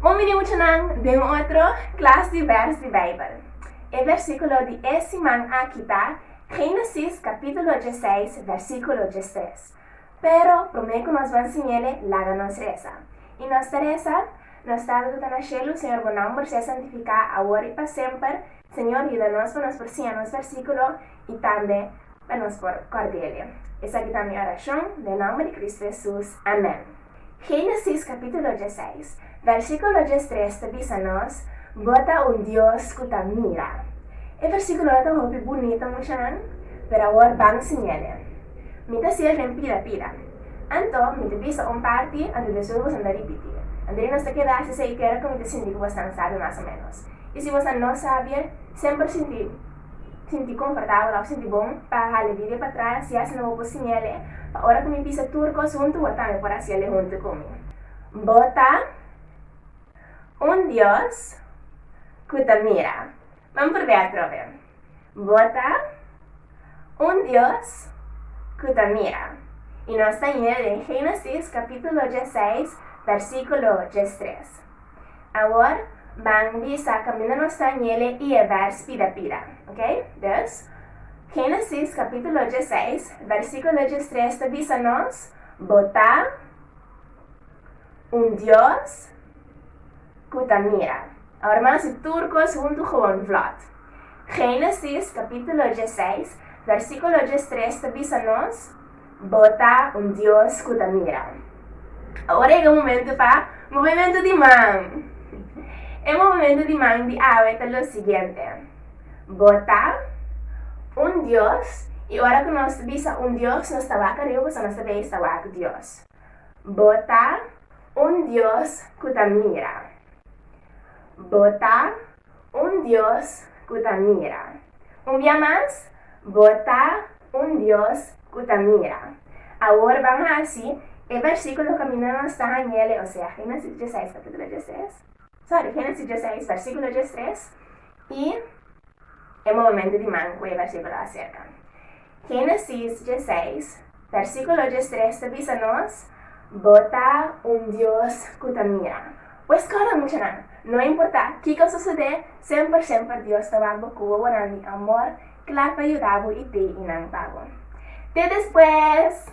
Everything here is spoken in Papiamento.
Bon bini muchanan den otro klas di bèrs di Beibel. E bèrsikulo di e siman aki ta Génesis kapítulo djeseis bèrsikulo djestres. Pero promé ku nos ban siñ'ele laga nos resa. I nos ta resa, Nos Tata ku ta na shelu, Señor bo nomber sea santifiká awor i pa semper. Señor yuda nos pa nos por siña nos bèrsikulo. i tambe pa nos por Kòrdele. Esaki ta mi orashon, den nòmber di Kristu Hesus, amèn. Génesis kapítulo diesseis, vèrsikulo diestres ta bisa nos, Bo ta un Dios ku ta mira. E vèrsikulo no ta hopi bunito, muchanan, pero awor ban siñal'e. Mi ta siel den pida pida. Anto, mi ta bisa un parti, anto despues boso mester ripiti. Anto di nos ta keda hasi esei kera ku mi ta sinti ku boso ta un sabio mas o ménos. I si boso no sabie, semper sinti. sinti konfortabel òf sinti bon pa hala Biblia pa tras i asina bo por siña'e pa ora ku mi bisa tur kos huntu bo tambe por hasiel huntu ku mi. Bo ta un Dios ku ta mira. Ban purbe'e atrobe. Bo ta un Dios ku ta mira. I nos ta yina den Génesis kapítulo diesseis, bèrsikulo diestres. Awor ban bisa kaminda nos ta nyele i e bèrs pida pida, oke? Dus, Génesis kapítulo diesseis, bèrsikulo diestres ta bisa nos, Bo ta un Dios ku ta mira. Awor ban hasi tur kos huntu gewoon vlot. Génesis kapítulo diesseis, bèrsikulo diestres ta bisa nos, Bo ta un Dios cu ta mira. Awor ega momento pa movemento di man. E movemento di man di awe ta lo siguiente, Bo ta un Dios, y ora cu nos bisa un Dios nos ta wak ariba pasobra nos ta bay esta wak Dios. Bo ta un Dios cu ta mira. Bo ta. un Dios ku ta mira. Un bia mas, bo ta un Dios ku ta mira. Awor ban hasi e bèrsikulo kaminda nos ta hañ'ele, osea Génesis diesseis, kapítulo diestres, sòri, Génesis diesseis, bèrsikulo diestres, i e movementu di man ku e bèrsikulo aserka. Génesis diesseis, Versíkulo diestres ta bisa nos, Bo ta un Dios ku ta mira. Pues kòrda muchanan, no importá kiko sosodé, semper semper Dios ta wak bo ku wowonan di amor kla pa yuda bo i pei i nan pa bo. Te despues!